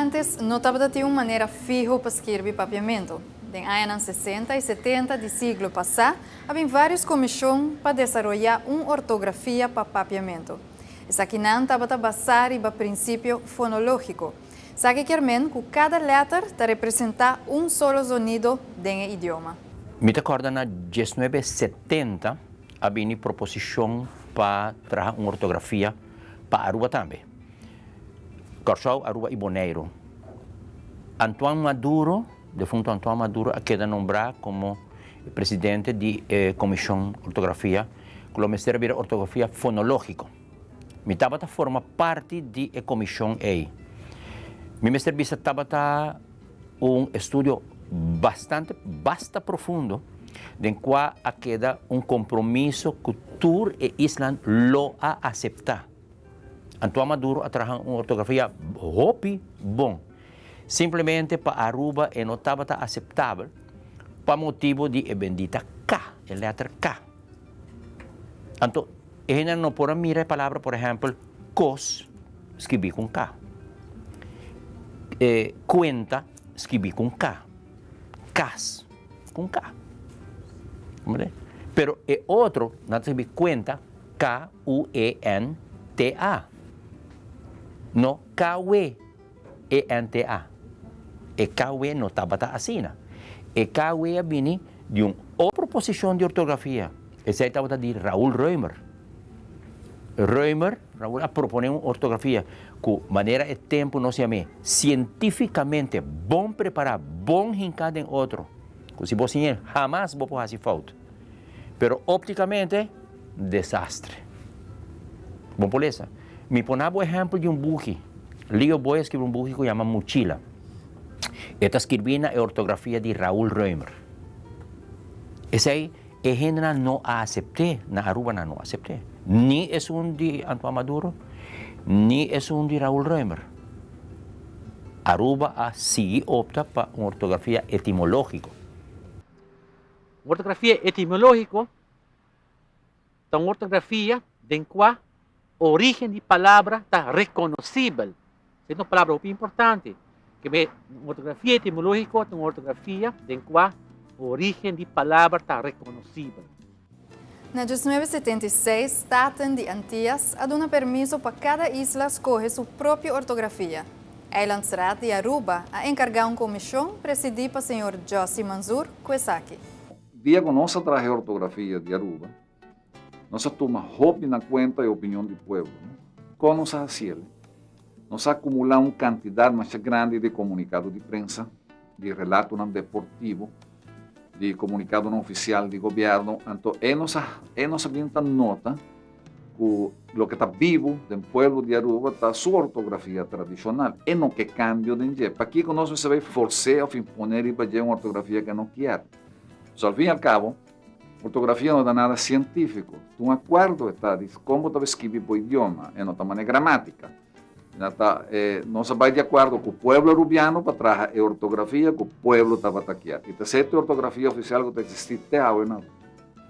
Antes no tabata tin un manera fiho pa skirbi papiamentu. Den añanan sesenta i setenta di siglo pasá a bin vários komishon pa desaroyá un ortografia pa papiamentu. Esakinan tabata basá riba prinsipio fonológiko. Sa ke kier men ku kada lèter ta representá un solo zonido den e idioma. Mi ta kòrda na diesnuebe setenta a bini proposishon pa traha un ortografia pa Aruba tambe, Kòrsou, Aruba i Boneiru. Antoine Maduro, defunto Antoine Maduro, a keda nombrá komo e presidente di e komishon ortografia, ku lo mester a bira ortografia fonológiko. Mi tabata forma parti di e comishon ey. Mi mester bisa tabata un estudio bastante, basta profundo den cua a keda un compromiso cu tur e islan lo a acepta. Antoine Maduro a traha un ortografia hopi bon. Simplemente pa Aruba e no tabata aceptabel pa motibo di e bendita K, e letra K. Anto, e hendenan no por a mira e palabra, por ehèmpel, kos, skibi ku un ka. E kuenta, skibi ku un ka. Kas, ku un ka. Comprende? Pero e otro, nan ta skibi kuenta, k-u-e-n-t-a, no kawe. ENTA, E KW no tabata asina. E KW a bini di un otro posishon di ortografia. Esei tabata di Raul Roemer. Roemer, Raul, a proponé un ortografia ku manera e tempu nos yam'é sientífikamente bon prepará, bon hinká den otro, ku si bo siñ'el hamas bo por hasi fout. Pero óptikamente. desastre. Bo por lesa. Mi por na bo ehempel di un buki. Leo Boy a skirbi un buki ku yama Muchila. E ta skirbi na e ortografia di Raul Reumer. Esei e hendenan no a asept'é, na Aruba nan no a asept'é. Ni esun di Antoine Maduro, ni esun di Raul Reumer. Aruba a sigui opta pa un ortografia etimológiko. Un ortografia etimológiko ta un ortografia den kua origen di palabra ta rekonosibel. Se ta un palabra hopi importante. Kibé un ortografia etimológiko ta un ortografia den kua origen di palabra ta rekonosibel. Na dies nuebe setenta i seis, staten di Antias a duna permiso pa kada isla skohe su propio ortografia. Eilandsraad di Aruba a enkargá un komishon presidí pa señor Josy Manzoor ku esaki. Dia ku nos a traha e ortografia di Aruba, nos a tuma hopi na kuenta e opinion di pueblo. Kon nos a hasi el? Nos a akumulá un kantidat masha grandi di komunikado di prensa, di relatonan deportivo, di komunikadonan ofisial di gobièrnu, anto ei nos a ei nos a bini ta nota ku loke ta bibu den pueblo di Aruba ta su ortografia tradishonal. E no ke kambio den dje. Pakiko nos mester bai fors'é òf impon'é riba dje un ortografia ku e no kier? Pos al fin y al cabo, ortografia no ta nada cientifico. Ta un acuerdo e ta di con bo ta bai skibi bo idioma, e no ta manera gramatica. Na ta e nos a bai di acuerdo cu pueblo Rubiano pa traha e ortografia cu pueblo tabata kier. Y ta sete e ortografia oficial cu ta existi te awe na Aruba.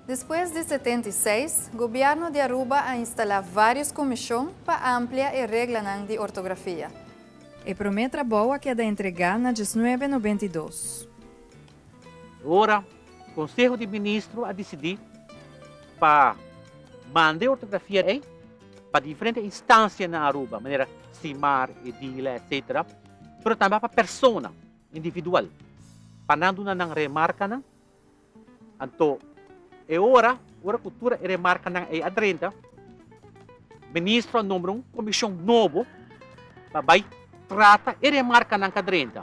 Despues di setenta y seis, Gobierno di Aruba a instala varios comision pa amplia e reglanan di ortografia. E prome trabou a keda entrega na diesnuebe nobenta y dos. E ora Konseho di Ministro a disidí pa manda e ortografia ei pa diferente instansia na Aruba, manera Simar, Edila, etsetera, pero tambe pa persona individual pa nan duna nan remarkanan, anto e ora ora ku tur e remarkanan ei a drenta, Ministro a nombra un komishon nobo pa bai trata e remarkanan ku a drenta.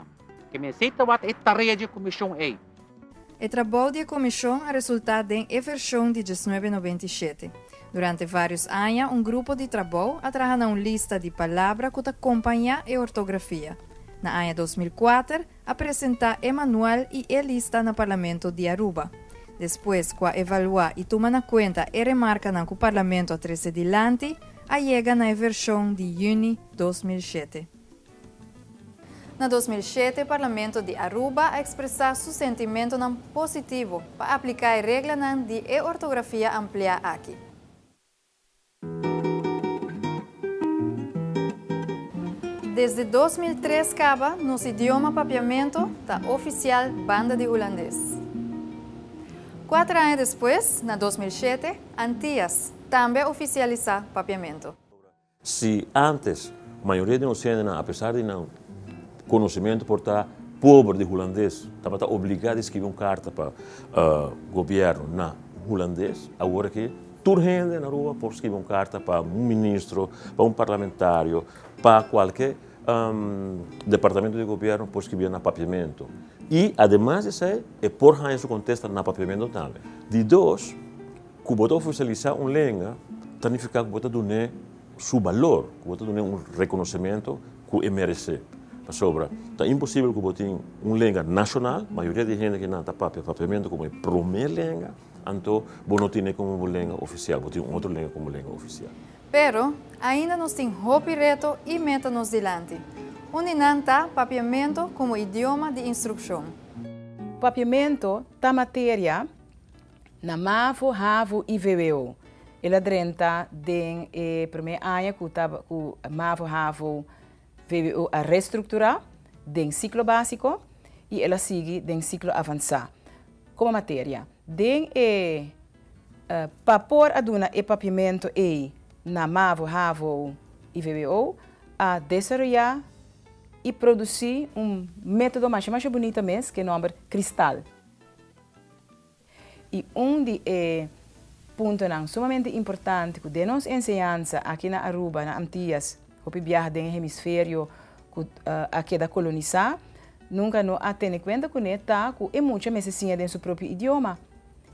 Ke mester tabata e tarea di e Komishon ei? E trabou di e Komishon a resultá den e vershon di diesnuebe noventa i shete. Durante vários aña un grupo di trabou a traha na un lista di palabra ku ta kompañá e ortografia. Na aña dos mil kuater a presentá e manual i e lista na Parlamento di Aruba. Despues ku a evaluá i tuma na kuenta e remarkanan ku Parlamento a trese dilanti, a yega na e vershon di yüni dos mil shete. Na dos mil shete Parlamento di Aruba a ekspresá su sentimentonan positivo pa apliká e reglanan di e ortografia ampliá aki. Desde dos mil tres kaba, nos idioma papiamentu ta ofisial banda di hulandes. Kuater aña despues, na dos mil shete, Antias tambe a ofisialisá papiamentu. Si antes mayoria di nos hendenan, apesar di nan konosementu por ta pober di hulandes, tabata obligá di skibi un karta pa gobièrnu na hulandes, awor aki tur hende na rua por skibi un karta pa un ministro, pa un parlamentario, pa kualke departamentu di gobièrnu por skibi na papiamentu. I ademas di esei e por haña su kontesta na papiamentu tambe. Di dos. Ku bo ta ofisialisá un lenga ta nifiká ku bo ta dun'é su balor, ku bo ta dun'é un rekonosementu ku e meresé. Pasobra ta imposibel ku bo tin un lenga nashonal, mayoria di hende kinan ta papia Papiamentu komo e promé lenga, anto bo no tin'é komo bo lenga ofisial, bo tin un otro lenga komo lenga ofisial. Pero, ainda nos tin hopi reto i meta nos dilanti. Un di nan ta Papiamentu komo idioma di instrukshon. Papiamentu ta materia Na Mavo, Havo i vvo. El a drenta den e promé aña ku ta ku Mavo, Havo, vvo a restrukturá den siklo básiko i el a sigui den siklo avansá. Komo materia den e pa por a duna e papiamentu ei na Mavo, Havo i vvo a desaroyá i produsí un método masha masha bunita mes ku e nòmber kristal. I un di e puntonan sumamente importante ku den nos enseñansa aki na Aruba, na Antias, hopi biaha den e hemisferio ku a keda kolonisá, nunka no a tene kuenta kuné ta ku e mucha mester siña den su propio idioma.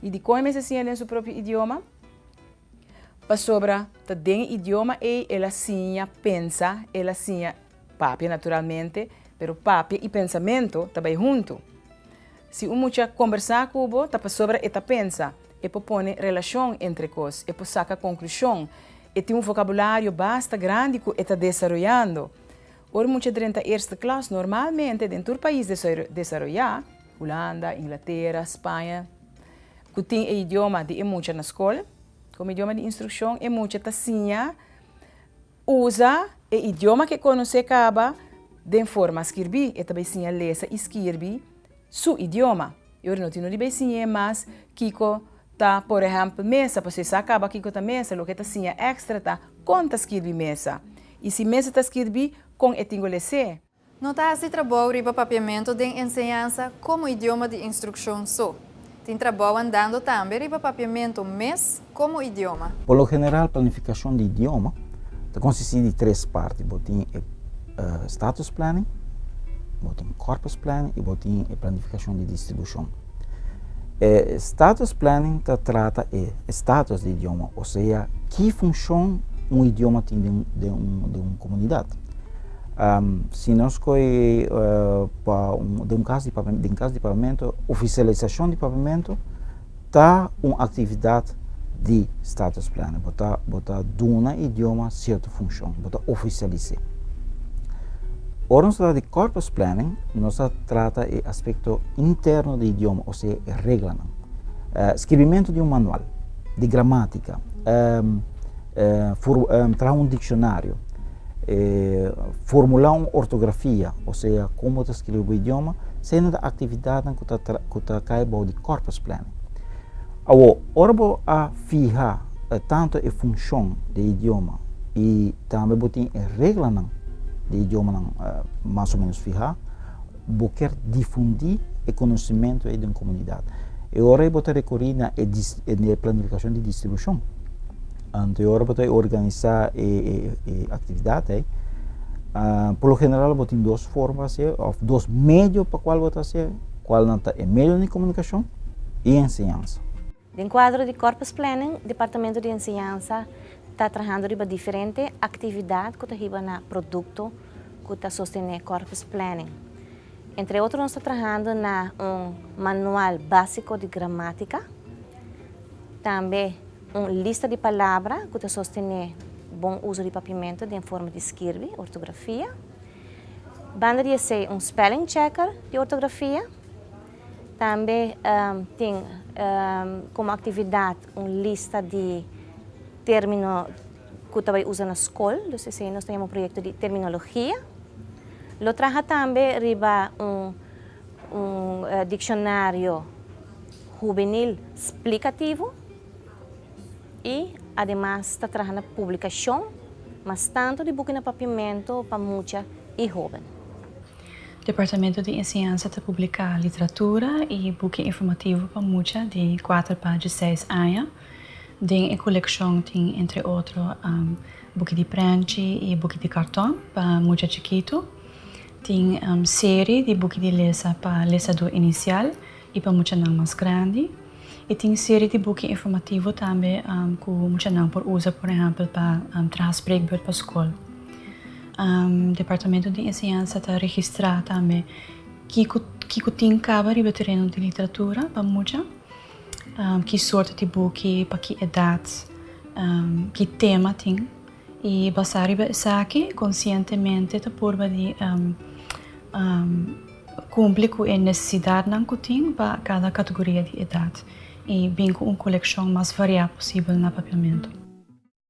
I dikon e mester siña den su propio idioma? Pasobra ta den e idioma ei el a siña pensa, el a siña papia naturalmente, pero papia i pensamentu ta bai huntu. Si un mucha a kombersá ku bo ta pasobra e ta pensa, e por pone relashon entre kos, e por saka konklushon, e tin un vokabulario basta grandi ku e ta desaroyando. Ora mucha drenta eerste klas, normalmente den tur pais desaroyá, Hulanda, Inglatera, Spaña, ku tin e idioma di e mucha na skol komo idioma di instrukshon, e mucha ta siña usa e idioma ku e konosé kaba den forma skirbí. E ta bai siña lesa i skirbi su idioma. I ora no tin ori bay siñ'é mas kiko ta por ehèmpel mesa, pasobra e sa kaba kiko ta mesa, loke e ta siña èkstra ta kon ta skirbi mesa. I si mesa ta skirbi, kon e tin go les'é? No ta hasi trabou riba papiamentu den enseñansa komo idioma di instrukshon so. Tin trabou andando tambe riba papiamentu mes komo idioma. Por lo general planifikashon di idioma ta konsistí di tres parti, bo tin e status planning, bo tin corpus planning i bo tin e planifikashon di distribushon. E status planning ta trata e status di idioma, osea ki funshon un idioma tin den un komunidat. Si nos koe pa un kas di papamentu, ofisialisashon di papamentu ta un aktividat di status planner. Bo ta bo ta duna e idioma sierto funshon, bo ta ofisialis'é. Ora nos ta trata di corpus planning, nos ta trata e aspekto interno di idioma, ose e reglanan. Skibimentu di un manual di gramátika, traha un dikshonariu, E formulá un ortografia, osea kon bo ta skirbi bo idioma, esei nan ta aktividatnan ku ta kai bou di corpus planning. Awor, ora bo a fiha tantu e funshon di e idioma i tambe bo tin e reglanan di e idiomanan mas o menos fihá, Bo ker difundí e konosementu ei den komunidat. E ora ei bo ta rekorí na e e planifikashon di distribushon. Anto e ora bo ta organisá e e aktividat ei, por lo general bo tin dos forma pa hasié òf dos medio pa kual bo ta hasié. Kualnan ta e medio di komunikashon i enseñansa. Den kuadro di Corpus Planning, Departamento di Enseñansa ta trahando riba diferente aktividat ku ta hiba na produkto ku ta sostené Corpus Planning. Entre otro nos ta trahando na un manual básiko di gramátika, tambe un lista di palabra ku ta sostené bon uso di papimentu den forma di skirbi, ortografia. Banda di esei un spelling checker di ortografia. Tambe tin komo aktividat un lista di término ku ta bai usa na skol, dus esei nos ta yama un proyekto di terminologia. Lo traha tambe riba un dikshonario hubenil splikativo i ademas ta traha na publikashon mas tantu di buki na Papiamento pa mucha i hóben. Departamento di Enseñansa ta publiká literatura i buki informativo pa mucha di kuater pa dieseis aña. Den e kolekshon tin entre otro buki di prènchi i buki di karton pa mucha chikitu. Tin seri di buki di lesa pa lesadú inisial i pa muchanan mas grandi. E tin serie di buki informativo tambe cu muchanan por usa por ehempel pa traha spreekbeurt pa scol. Departamento di Enseñansa ta registra tambe kico tin caba riba e tereno di literatura pa mucha, ki soorten di buki, pa ki edad, ki tema tin y basa riba esaki conscientemente ta purba di. Kumpli ku e nesesidatnan ku tin pa kada kategoria di edat i bin ku un kolekshon mas variá posibel na papiamentu.